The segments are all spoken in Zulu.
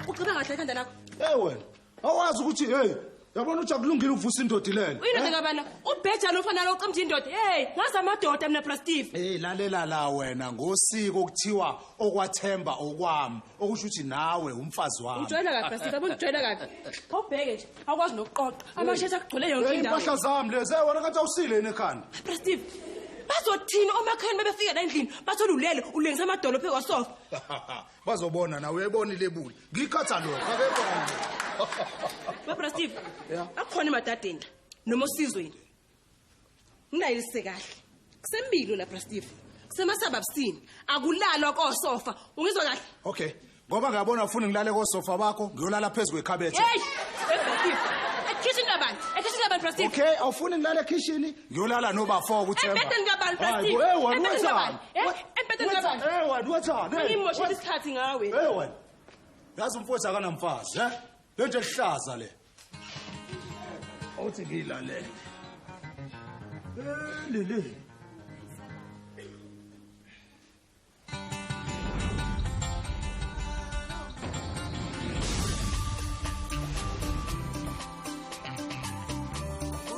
uceba kahle ekhanda lakho hey wena awazi ukuthi hey yabona uthi akulungile ukuvusa indoda ilele uyindoda kabana ubheja lo mfana loqemja indoda hey ngazi amadoda mina brastive hey lalela la wena ngosiko kuthiwa okwathemba okwami okusho ukuthi nawe umfazi wami ujwayela kabi basithi yabona ujwayela kabi awubheke nje awukwazi nokuqoqa amashethi akugcwele yonke indawo impahla zami lezi wena kathi awusile yini ekhanda brastive bazothini omakhani bebefika la endlini bathole ulele ulengisa amadolo phezu kwasofa bazobona nawe uyayibona ilebuli ngiyikhatha lokho akekho babrastive akhona emadadeni noma osizweni Nginayilise kahle. Kusembilo la Bra Steve. Kusemasababsini. Akulalwa kosofa. Ungizwa kahle? Okay. Ngoba ngiyabona ufuna ngilale kosofa bakho, ngiyolala phezulu kwekhabethe. Hey! Kitchen labantu. Ekitchen labantu Bra Steve. Okay, awufuni ngilale ekhishini, ngiyolala nobafo kuthemba. Ebhedeni kabantu Bra Hayi, Steve. Hey, wena Ebhedeni kabantu. wethani? Eh, Ebhedeni kabantu. Hey, wena wethani? Hey, Ngimoshela isikhathi ngawe. Hey wena. Yazi umfowethu akanamfazi, eh? Lento ehlaza le. othi ngilalele lele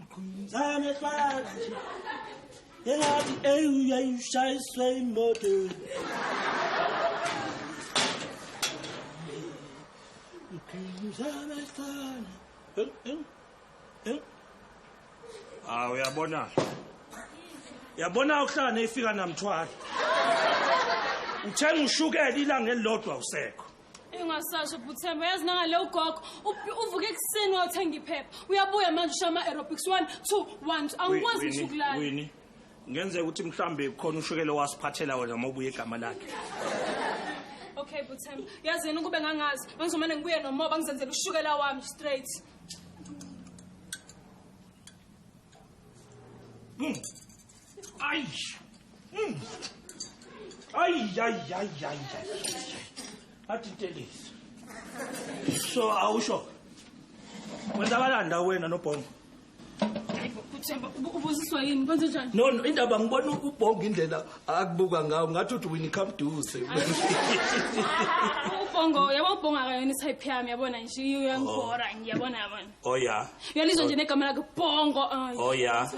Ngqumzane fana nje. Engathi ey uyayishayiswe imoto. Ngqumzane fana. Eng eng. Eng. Ah uyabona. Yabona ukuhlala neyifika namthwala. Uthenga ushukela ilanga elilodwa usekho. Ingasasho Bhuthemba yazi nangale ugogo uvuke ekuseni wayothenga iphepha uyabuya manje ushaya ama-aerobics one two one two angikwazi ngisho ukulala Winnie, ngenzeka ukuthi mhlambe khona ushukele wasiphathela wena uma ubuye igama lakhe. okay Bhuthemba yazi yena ukube ngangazi ngangizomane ngibuye nomoba ngizenzela ushukela wami straight Mm. Ay! Mm. Ay, ay, ay, ay, ay. Athi intelezi. So awusho. Wenzakalanda wena nobhongo. Themba ubusiswa yini kwenze njani? No no indaba ngibona ubhongo indlela akubuka ngawo ngathi uthi wini come do se. Ubhongo yabo ubhonga kayona type yami yabona nje uyangibhora ngiyabona yabona. Oh yeah. Uyalizwa nje negama lakhe Bongo. Ay. Oh yeah.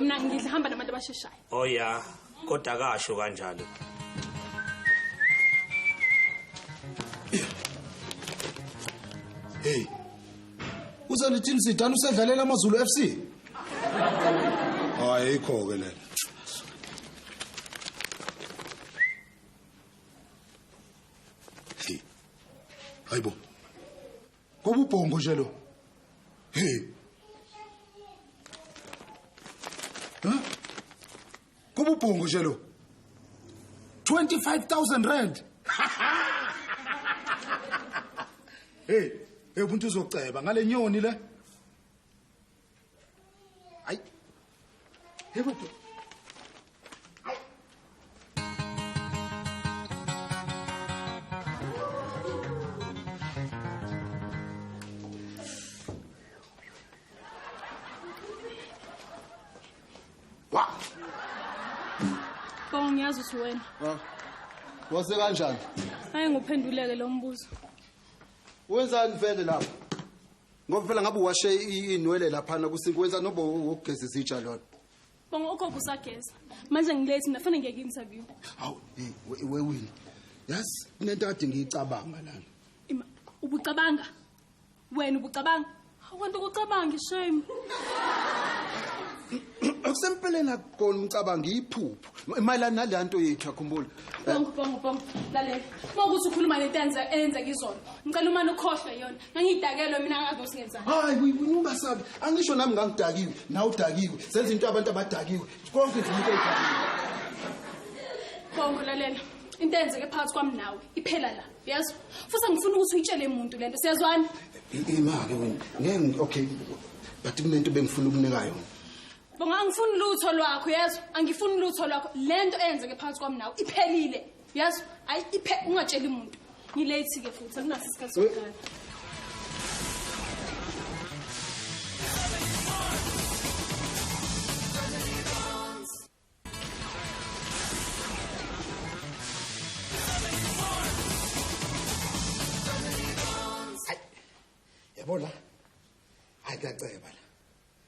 Mina ngidla hamba nabantu abasheshayo. Oh yeah. Kodwa kasho kanjalo. Hey. Uzalithini sidana usedlalela amaZulu FC? Hayi ikho ke lena. Hey. Hayibo. Kububhongo nje lo. Hey. Ha? Kububhongo nje lo. 25000 rand. Hey, hey umuntu uzoceba ngale nyoni le. Ay. Hey, what the? Wow. Bonga ngiyazi ukuthi wena. Ah. Wase kanjani? Hayi nguphenduleke lo mbuzo. Wenzani vele lapha? ngoba phela ngabe uwashe i- inwele laphana kusinki wenza nobo wokugeza izitsha lona bonga ugogo usageza manje ngilethi mina fanele ngiyeke interview hawu hey, we- wewini yazi kunento kade ngiyicabanga lana Ima, ubucabanga wena ubucabanga awukanti ukucabanga ishame okusempeleni akukona umcabango iyiphupho mayelana naleya nto yethu yakhumbula bonke bonke bonke lalela uma ukuthi ukhuluma nento eyenzeka izona ngicela umane ukhohlwe yona ngangiyidakelwe mina angazi osingenzani hayi ungasabi angisho nami ngangidakiwe nawe udakiwe senza into abantu abadakiwe konke nje umuntu edakiwe bonke lalela into eyenzeke phakathi kwami nawe iphela la yazi futhi angifuni ukuthi uyitshele umuntu le nto siyazwana imake wena ngeke okay but kunento bengifuna ukunika yona Bonga angifuni lutho lwakho yezwa angifuni lutho lwakho lento eyenzeke phakathi kwami nawe iphelile yezwa ayi iphe ungatsheli umuntu ngilate ke futhi akunaso isikhathi sokugana Yabona? Hayi kuyaceba la.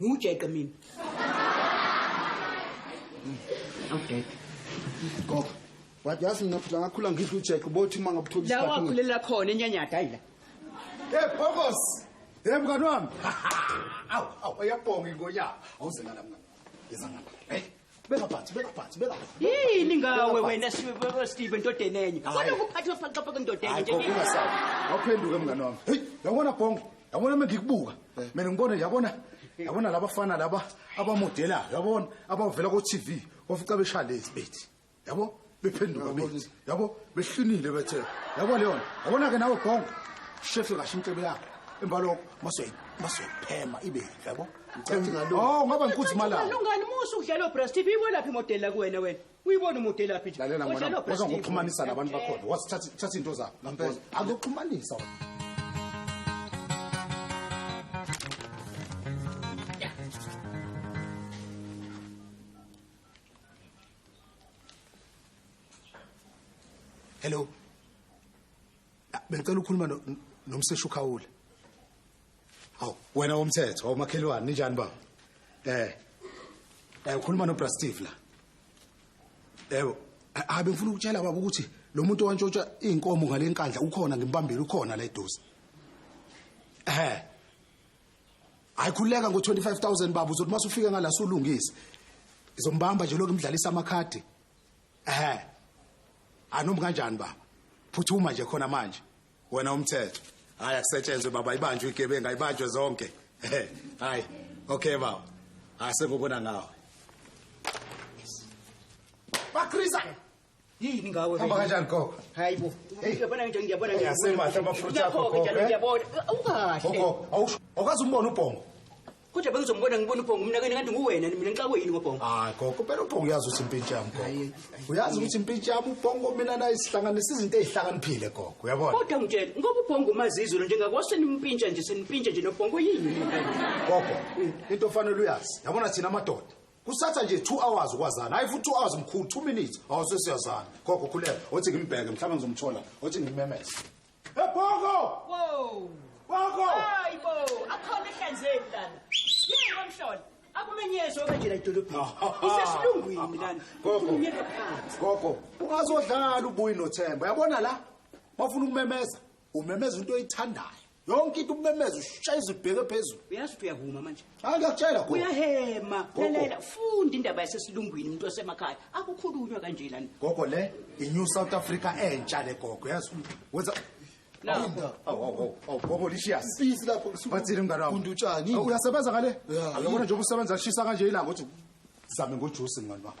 ngiwujeqe mina okay go wathi yazi mina futhi ngakhula ngidla ujeqe ubothi uma ngabuthola la wakhulela khona enyanyada hayi la hey bokos hey mngani wami awu awu uyabonga ingonyama awuze ngala mngani ngizangala hey beka phansi beka phansi beka yini ngawe wena Steve endodeni enye kodwa ukuphatha ufaxopa kwendoda enye nje ungasabi awuphenduke mngane wami hey yabona bonke yabona mina ngikubuka eh. mina ngibona yabona yabona labafana laba abamodelayo yabona abavela ko TV wafica beshalezi bethi yabo bephenduka bethi yabo behlinile bethe yabo leyo yabona ke nawe gonga shefe kasho intebe yakho emva lokho masoyiphema ibe yabo oh ngaba ngikuthi malanga lungani musa ukudlalo breast tv iwelaphi modeli la kuwena wena uyibona umodeli laphi nje lalela ngwana waza ngokuxhumanisa nabantu bakhona wasithatha thatha into zakho ngampela akuxhumanisa wena hello ah, bengicela ukukhuluma nomseshi ukhawula hawu wena womthetho wawumakhelwane ninjani baba eh eh ukhuluma nobra steve la yebo eh, hayi bengifuna ukutshela baba ukuthi lo muntu owantshotsha iy'nkomo ngale nkandla ukhona ngimbambile ukhona la eduze ehe hayi khuleka ngo-25000 baba uzothi uma sufike ngala sulungise ngizombamba nje lokhu imdlalisa amakhadi ehe anomi kanjani baba phuthuma nje khona manje wena umthetho hayi akusetshenzwe baba ibanjwe igebengu ayibanjwe zonke hayi okay baba asengokona ngawe bakriza yini ngawe hamba kanjani gogo hayi bo ngiyabona nje ngiyabona nje yasemahle amafruit akho gogo eh? ngiyabona awukahle gogo awusho awukazi umbona ubhongo kodwa bengizombona ngibona ubhongo umnakeni kanti nguwena mina ngixakwe yini ngobhongo hayi gogo phela ubhongo uyazi ukuthi impintshi yami gogo uyazi ukuthi impintshi yami ubhongo mina naye sihlanganisa izinto ezihlakaniphile gogo uyabona kodwa ngitshela ngoba ubhongo umazizulu njengakwase nimpintsha nje senimpintsha nje nobhongo yini gogo into ofanele uyazi yabona thina amadoda kusatha nje two hours ukwazana hayi futhi two hours mkhulu two minutes awusesiyazana gogo khuleka othi ngimbheke mhlawumbe ngizomthola othi ngimemeze ebhoko wow bhoko hayi bo akhona ehlanzeni lana yini komhlola akumenyezwe okanjela edolobheni isesilungwini lana ukhulumyeka phansi gogo ungazodlala ubuyi nothemba yabona la bafuna ukumemeza umemeza into oyithandayo yonke into ubumemeza ushayeza ubheke phezulu uyazi ukuthi uyahuma manje hayi ngiyakutshela gogo uyahema lalela funda indaba yasesilungwini umuntu osemakhaya akukhulunywa kanje lana gogo le i-new south africa entsha le gogo yazi wenza gogo lishiya sisi lapho bathile mngane wami funda utshani uyasebenza ngale uyabona nje ubusebenza lishisa kanje ilanga ukuthi zame ngojusi mngane wami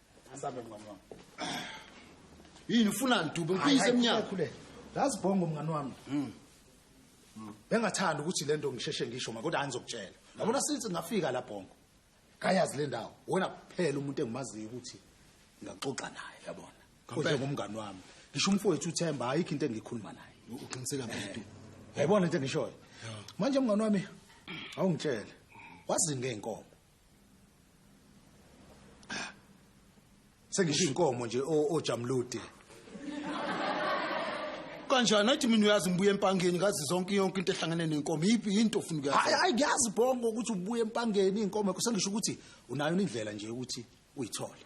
Asabe mngani wami. Yini ufuna ndube ngifise emnyango. Khuleka. Lazi bongo mngani wami. Mhm. Bengathanda ukuthi lento ngisheshe ngisho ma kodwa angizokutshela. Yabona since ngafika la bongo. Kayazi le ndawo. Wena kuphela umuntu engimaziyo ukuthi ngaxoxa naye yabona. Kodwa ngumngani wami. Ngisho umfowethu uThemba ayikho into engikhuluma naye. Uqiniseka mfethu. Yayibona into engishoyo. Manje mngani wami awungitshele. Wazinge inkomo. sengisho inkomo nje ojamlude kanjani athi mina uyazi ngibuye empangeni ngazi zonke yonke into ehlangene nenkomo yiphi yinto ofuna ukuyazi hayi hayi ngiyazi bongo ukuthi ubuye empangeni inkomo yakho sengisho ukuthi unayo indlela nje ukuthi uyithole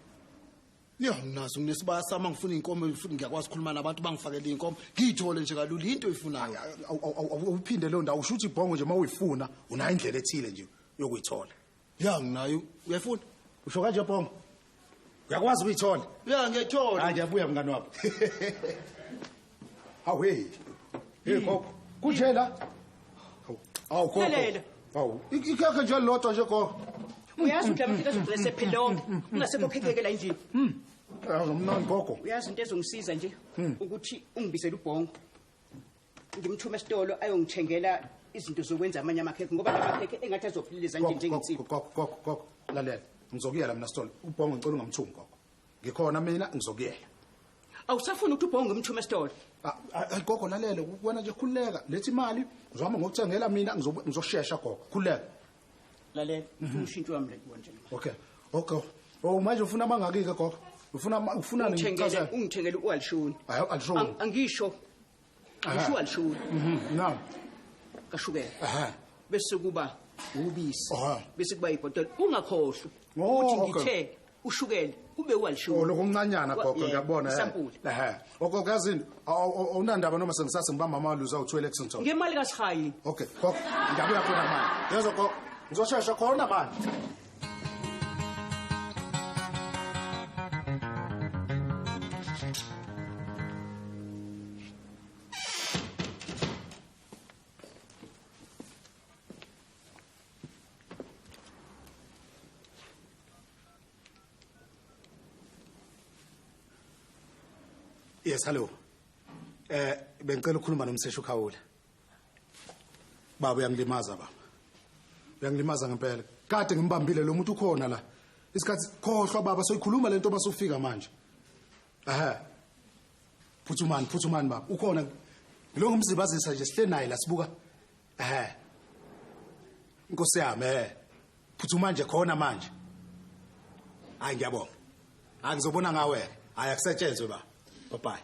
ya nginazo nginesibaya sami angifuna inkomo futhi ngiyakwazi ukukhuluma nabantu bangifakele inkomo ngiyithole nje kalula into oyifunayo awuphinde leyo ndawo usho ukuthi ibhongo nje uma uyifuna unayo indlela ethile nje yokuyithola ya nginayo uyafuna usho kanje bongo uyakwazi ukuyithola ya ngiyathola hayi ngiyabuya mngani wabo hawu hey hey gogo kunje la awu gogo awu ikhekhe nje lodwa nje gogo uyazi ukuthi lamakhekhe azogcina sephele lonke kungasekho khekeke la endlini hmm. awuzomnani gogo uyazi into ezongisiza nje hmm. ukuthi ungibizele ubhongo ngimthume esitolo ayongithengela izinto zokwenza amanye amakhekhe ngoba la makhekhe engathi azophililiza nje njengensiba gogo gogo gogo lalela ngizokuyela mina sitolo ubhongo ngicela ungamthumi gogo ngikhona mina ngizokuyela awusafuni ukuthi ubhongo ngimthume esitolo ah, ah, hayi gogo lalela wena nje khululeka lethi imali ngizohamba ngokuthengela mina ngizoshesha gogo khululeka lalela mhm. umshintsho wami le konje okay okay o oh, manje ufuna amangaki-ke gogo ufuna ufuna ungithengele u-alishoni angiyisho ushukela lishukela mhm, naam kashukela aha bese kuba ubisi bese kuba ibhotela ungakhohlwa oh, ukuthi ngithe ushukela kube walishukela oh, lokuncanyana gogo ngiyabona ehe oko kazini awunandaba noma sengisase ngiba mama waluza u2 Lexington ngemali kaSihayi okay gogo ngiyabuya khona manje yezo gogo ngizoshesha khona manje Yes, hello. Eh bengicela ukukhuluma nomseshi uKhawula. baba uyangilimaza baba uyangilimaza ngempela kade ngimbambile lo muntu ukhona la isikhathi khohlwa baba soyikhuluma lento masufika manje ehe phuthumani phuthumani baba ukhona ngilonga umzibazisa nje sihle naye la sibuka ehe inkosi yami ehe phuthuma nje khona manje hayi ngiyabonga angizobona ngawe hayi akusetshenzwe ba bye bye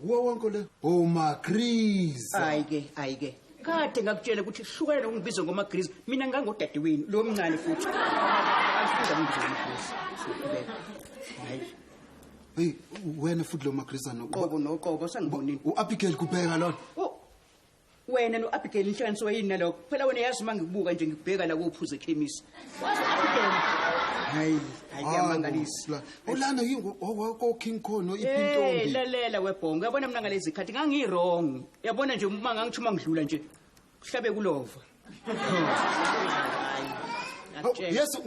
Kuwo wonke le Goma Grease. Hayi ke, hayi ke. Kade ngakutshela ukuthi hlukana nokungibiza ngoma Grease. Mina ngangodadewenu, lo mncane futhi. Angifunda ngibiza ngoma Grease. Hayi. Hey, wena futhi lo maGrease anoqobo noqobo sengibonile. U-Abigail kubheka lona. wena no-abigail nihlanganisiwe yini nalokho phela wena yazi uma ngikubuka nje ngikubheka la kophuza ekhemisi wazi abigail hayi hayi kuyamangalisa ulana koking khon noipintombi lalela webhongo yabona mina ngalezi zikhathi ngangirong yabona nje uma ngangitsho uma ngidlula nje kuhlabe kulova yesu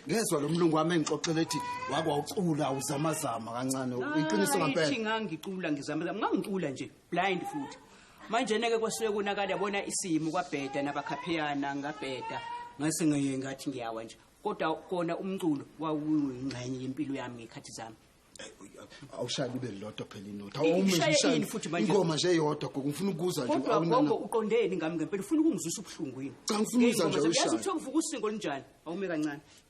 ngezwa lo mlungu wami engixoxela ethi wakwawucula uzamazama kancane iqiniso ngampela ngangicula ngizamazama ngangicula nje blind futhi manje neke kwasuke kunakala yabona isimo kwabheda nabakhapheyana ngabheda ngase ngeye ngathi ngiyawa nje kodwa kona umculo wawuyingxenye yempilo yami ngekhathi zami awushaye kube lodwa phela inotha awumishaye futhi manje ingoma nje yodwa gogo ngifuna ukuza nje kodwa gogo uqondeni ngami ngempela ufuna ukungizwisa ubuhlungu yini cha ngifuna ukuza nje ushaye yazi uthokuvuka usingo linjani awume kancane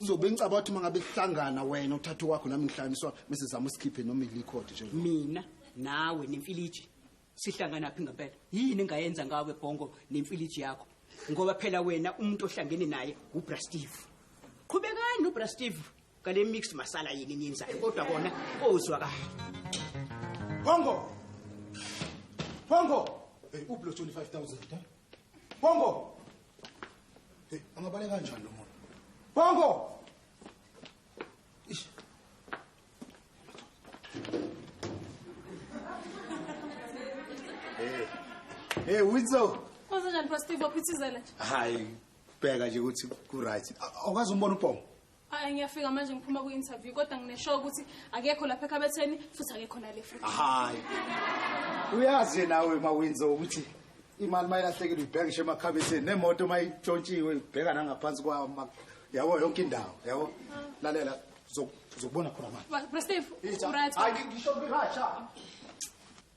uzobe ngicaba ukuthi mangabe sihlangana wena uthatha kwakho nami ngihlanganiswa bese zama usikhiphe noma ilikhodi nje mina nawe nemfiliji sihlangana phi ngempela yini engayenza ngawe bhongo nemfiliji yakho ngoba phela wena umuntu ohlangene naye ubra steve qhubekani nobra steve ngale mixed masala yini enyenzayo kodwa kona ozwa kahle bhongo bhongo hey ublo 25000 eh Bongo. Hey, angabale kanjani lo muntu? Bongo. Ish. Hey. Hey, Witzo. Kwenzenjani Pastor Steve waphithizela nje? Hayi, bheka nje ukuthi ku right. Awukazi umbona uBongo? Hayi ngiyafika manje ngiphuma ku interview kodwa ngine show ukuthi akekho lapha ekhabetheni futhi akekho nale free. Hayi. Uyazi nawe mawinzo ukuthi imali mayilahlekile ibheka ngisho emakhabetheni nemoto mayitshontshiwe ibheka nangaphansi kwa yabo yonke indawo yabo lalela zokubona khona manje. Bro Steve, right. Hayi ngisho ngirasha.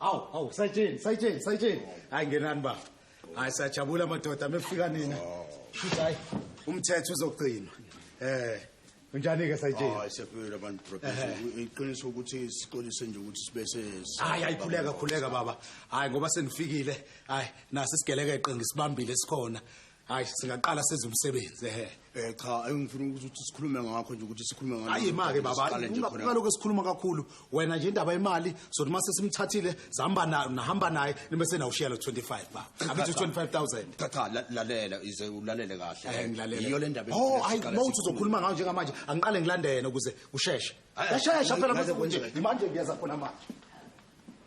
awu awu sayitsheni sayitsheni sayitsheni hayi ngenani baba hayi sajabula madoda mefika nina shuthi hayi umthetho uzogcinwa eh Unjani ke sayitshela? Hayi siyaphelele abantu professor. Iqiniso ukuthi sixolise nje ukuthi sibe se Hayi ayikhuleka khuleka baba. Hayi ngoba senifikile. Hayi nasi sigelekeqe ngisibambile sikhona. Hayi singaqala senze umsebenzi ehe. Eh cha engifuna ukuthi sikhulume ngakho nje ukuthi sikhulume ngalo. Hayi make baba ungalokho sikhuluma kakhulu wena nje indaba yemali sothi uma sesimthathile zihamba nayo nahamba naye nibe senawushiya lo 25 ba angithi 25000 cha cha la- lalela ize ulalele Eh, kahle ngilalele. yiyo le ndaba oh engifuna ayi siqale mawuthi sikhulume. uzokhuluma ngayo njengamanje angiqale ngilandene ukuze kusheshe Ayi, yashesha ayi, phela ayi, mase kunje ayi, manje ngiyaza khona manje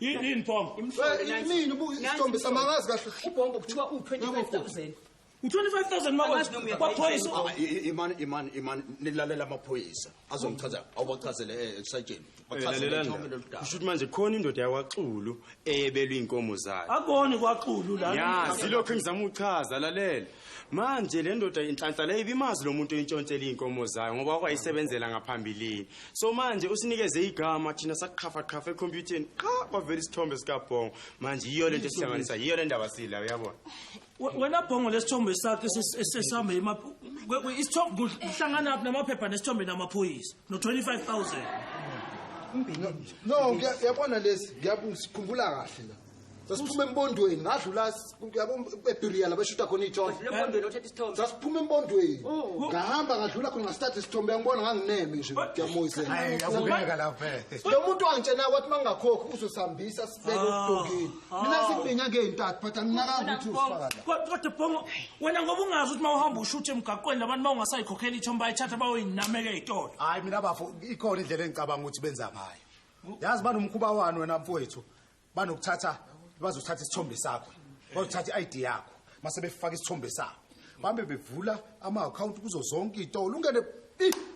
Yini yini Tom? Yini ubuka isithombe samangazi kahle. Ubhombo kuthiwa u25000. U25000 mawethu kwaphoyisa. Imani imani imani nilalela amaphoyisa azomchaza awubachazele eh, esajeni. Bachazele nje loludaba. Kusho ukuthi manje khona indoda yakwaXulu eyebelwe inkomo zayo. Akoni kwaXulu la. Ya, silokho engizama uchaza lalela. manje le ndoda inhlanhla le ibimazi lo muntu oyintshontshela iy'nkomo zayo ngoba wakwayisebenzela ngaphambilini so manje usinikeze igama thina saqhafaqhafa ekhompyutheni qha kwavela isithombe sikabhongo manje yiyo le nto esihlanganisa yiyo le ndaba sila uyabona wena bhongo lesithombe sakhe sesihamba isithombe kuhlangana phi namaphepha nesithombe namaphoyisa no-25 000 no yabona lesi ngiyabusikhumbula kahle la sasiphuma embondweni ngadlula ebiriya la bashutha khona iy'thombe sasiphuma embondweni oh. ngahamba ngadlula khona ngasithatha isithombe yangibona ngangineme nje ngiyamoyiselelo muntu wangitshena kwathi uma ngingakhokhi uzosihambisa sibeke ah. okudongeni ah. mina sibinga ngey'ntathu but anginakanga ukuthi uzifakakodwa bongo wena ngoba ungazi ukuthi uma uhamba ushuthe emgaqweni labantu uma ungasayikhokhela ithombe bayithatha bayoyinameka ey'tolo hhayi mina bafo ikhona indlela engicabanga ukuthi benza ngayo yazi banomkhuba wani wena mfowethu banokuthatha bazothatha isithombe sakho bazothatha i-id yakho mase befaka isithombe sakho bambe bevula ama-akhawunti kuzo zonke iy'tolo ungene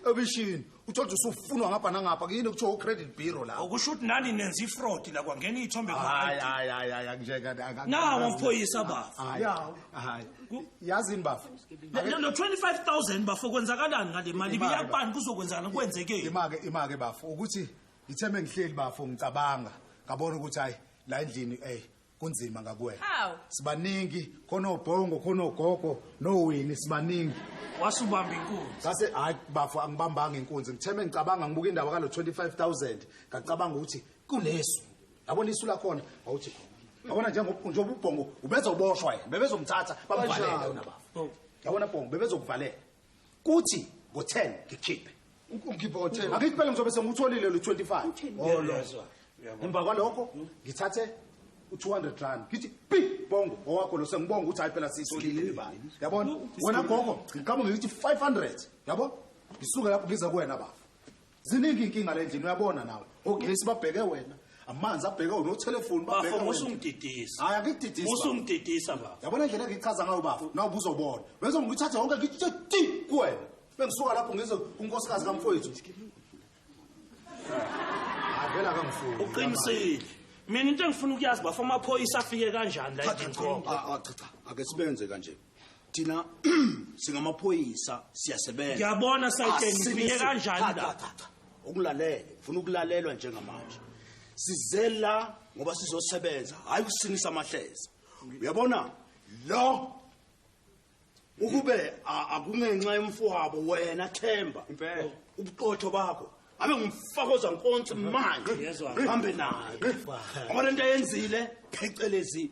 ebishini uthole ukuthi usufunwa ngapha nangapha kuyini kuthiwa u-credit bureau la okusho ukuthi nani nenza ifrodi la kwangena iy'thombe hayi hayi hayi hayi anginjeka nawo mphoyisa bafo yawo hayi yazini bafo no 25000 bafo kwenzakalani ngale mali biyakubani kuzokwenzakala kwenzekeni imake imake bafo ukuthi Ngithe mengihleli bafo ngicabanga ngabona ukuthi hayi la endlini ey kunzima ngakuwena. Hawu. Sibaningi khona obhongo khona ogogo nowini sibaningi. Wasubamba inkunzi. Sase hayi bafo angibambanga inkunzi ngithe mengicabanga ngibuka indaba kalo 25000 ngacabanga ukuthi kunesu. Yabona isu lakhona wawuthi khona. Yabona njengoba njengoba ubhongo ubezoboshwa yena bebezomthatha bamvalele wena bafo. Yabona bhongo bebezokuvalela. kuthi ngo-10 ngikhiphe ngikhiphe ngo-10 angithi phela ngizobe sengutholile lo 25 emva kwalokho ngithathe u-200 rand ngithi pi bongo owakho lo sengibonga ukuthi hayi phela siyisolile imali yabona wena gogo ngiqamuke ngithi 500 yabo ngisuke lapho ngiza kuwena bafo ziningi inkinga lendlini uyabona nawe ogesi babheke wena amanzi abheke wena othelefoni babheke wena usungididisa hayi akididisa usungididisa baba yabona indlela engichaza ngayo bafo nawe ubuzobona bese ngithathe wonke ngithe ti kuwena bengisuka lapho ngizo unkosikazi kamfowethu avela kamfuni uqinisile mina into engifuna ukuyazi bafo amaphoyisa afike kanjani la endlini cha cha ake sibenze kanje thina singamaphoyisa siyasebenza ngiyabona sayitsheni ngifike kanjani la ukulalele ngifuna ukulalelwa njengamanje sizela ngoba sizosebenza hayi kusinisa amahleza uyabona lo ukube akungenxa yomfowabo wena themba impela ubuqotho bakho abe ngumfakoza nkonsi manje hambe naye ngoba lento ayenzile phecelezi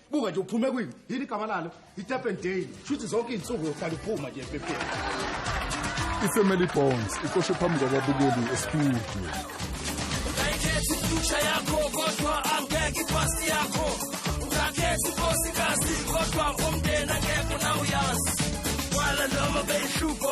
buka nje uphume kwini yini igama lalo itependale shuthi zonke iy'nsuku yohlala uphuma nje epepeni ifamily bonds icoshe phambi kwababukeli estudio future yakho kodwa angeke ipast yakho ungakhethi unkosikazi kodwa umndeni angeke unawuyazi kwala noma beyihluko